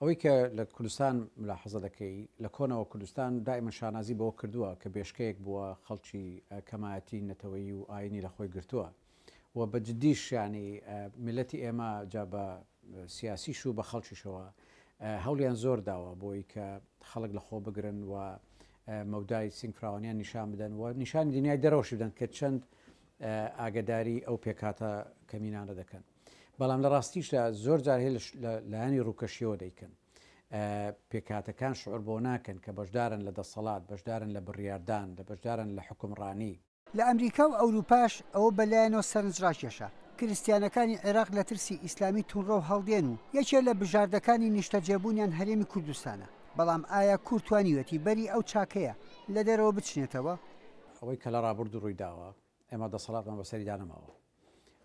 ئەوەی کە لە کوردستان ملاحەزە دەکەی، لە کۆنەوە کوردستان دائیمەن شانازی بەوە کردووە کە بێشکەیەک بووە خەڵکی کەمایەتی نەتەوەیی و ئایینی لە خۆی گرتووە و بە جدیش یانی میللەتی ئێمە جا بە سیاسیش و بە خەڵکیشەوە هەوڵیان زۆر داوە بۆی کە خەڵک لە خۆ بگرن و مەودای سنگ فراوانیان نیشان بدەن و نیشانی دنیای دەرەوەشی بدەن کە چەند ئاگداری ئەو پێکاتە کەمینانە دەکەن. بەڵام لە ڕاستیشدا زۆر جار هەیە لە لایەنی ڕووکەشیەوە دەیکەن. پێکهاتەکان شعور بەوە ناکەن کە بەشدارن لە دەسەڵات، بەشدارن لە بڕیاردان، لە بەشدارن لە حوکمڕانی. لە ئەمریکا و ئەوروپاش ئەوە بە لایەنەوە سەرنجڕاکێشە. کریستیانەکانی عێراق لە ترسی ئیسلامی توندڕەو هەڵدێن و یەکێ لە بژاردەکانی نیشتەجێبوونیان هەرێمی کوردستانە. بەڵام ئایا کورد توانیویەتی بەری ئەو چاکەیە لە دەرەوە بچنێتەوە؟ ئەوەی کە لە ڕابوردوو ڕووی داوە، ئێمە دەسەڵاتمان بەسەریدا نەماوە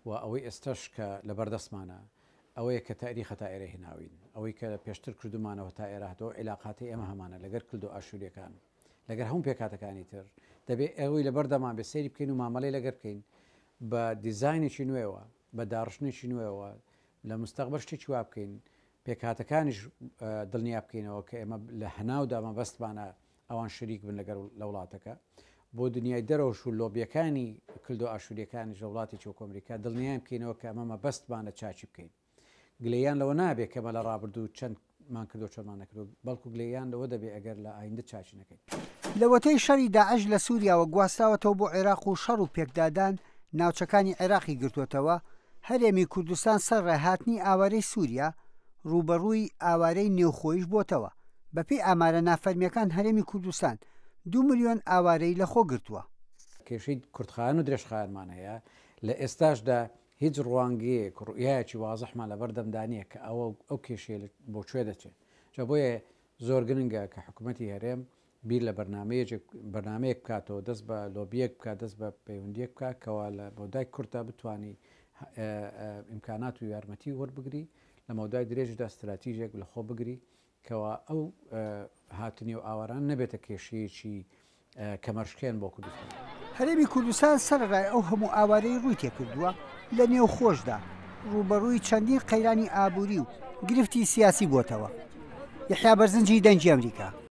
و ئەوەی ئێستەش کە لەبەردەستمانە ئەوەیە کە تاریخە تا ئێرە هێناوین، ئەوەی کە پێشتر کردوومانەوە تا ئێرە هاتووە، عیلاقاتی ئێمە هەمانە لەگەر کلد و ئاشوورییەکان، لەگەر هەموو پێکهاتەکانی تر، دەبێ ئەوەی لەبەردەمان بێ سەیری بکەین و مامەلەی لەگەر بکەین بە دیزاینێکی نوێوە، بە داڕشتنێکی نوێوە، لە مستەقبەل شتێکی وا بکەین پێکهاتەکانیش دڵنیا بکەینەوە کە ئێمە لە هەناودا مەبەستمانە ئەوان شەریک بن لەگەر لە وڵاتەکە بۆ دنیای دەرەوەش و لۆبیەکانی کلدۆ ئاشوریەکانیش لە وڵاتی چۆکۆ ئەمریکا دڵنیایان بکەینەوە کە ئەمە مەبەستمانە چاکی بکەین گلەیان لەوە نابێت کەمە لە ڕابردوو چەند مان کردو چۆمان نەکردو بەڵکو گلەیان لەوە دەبێت ئەگەر لە ئایندە چاکی نەکەین. لەوەتەی شەری داعش لە سوریاوە گواستراوەتەوە بۆ عێراق و شەڕ و پێکدادان ناوچەکانی عێراقی گرتووەتەوە، هەرێمی کوردستان سەر ڕێ هاتنی ئاوارەی سووریا، ڕووبەڕووی ئاوارەی نێوخۆیش بۆتەوە، بەپێی ئامارە نافەرمییەکان هەرێمی کوردستان دوو ملیۆن ئاوارەی لە خۆ گرتووە. کێشەی کورتخایەن و درێژخایەنمان هەیە، لە ئێستاشدا هیچ ڕوانگەیەک و ڕوئیایەکی وازحمان لە بەردەمدا نییە کە ئەوە ئەو کێشەیە بۆ کوێ دەچێت، جا بۆیە زۆر گرنگە کە حکومەتی هەرێم بیر لە بەرنامەیەجێک بەرنامەیەک بکاتەوە دەست بە لۆبیەک بکات دەست بە پەیوەندیەک بکات کەوا لە مەودای کورتا بتوانی ئیمکانات و یارمەتی وەربگری لە مەودای درێژدا ستراتیژێک لە خۆ بگری کەوا ئەو هاتنی و ئاواران نەبێتە کێشەیەکی کەمەرشکێن بۆ کوردستان. هەرێمی کوردستان سەرەڕای ئەو هەموو ئاوارەی ڕووی تێکردووە لە نێوخۆشدا ڕووبەڕووی چەندین قەیرانی ئابووری و گرفتی سیاسی بۆتەوە. یەحیا بەرزنجی دەنگی ئەمریکا.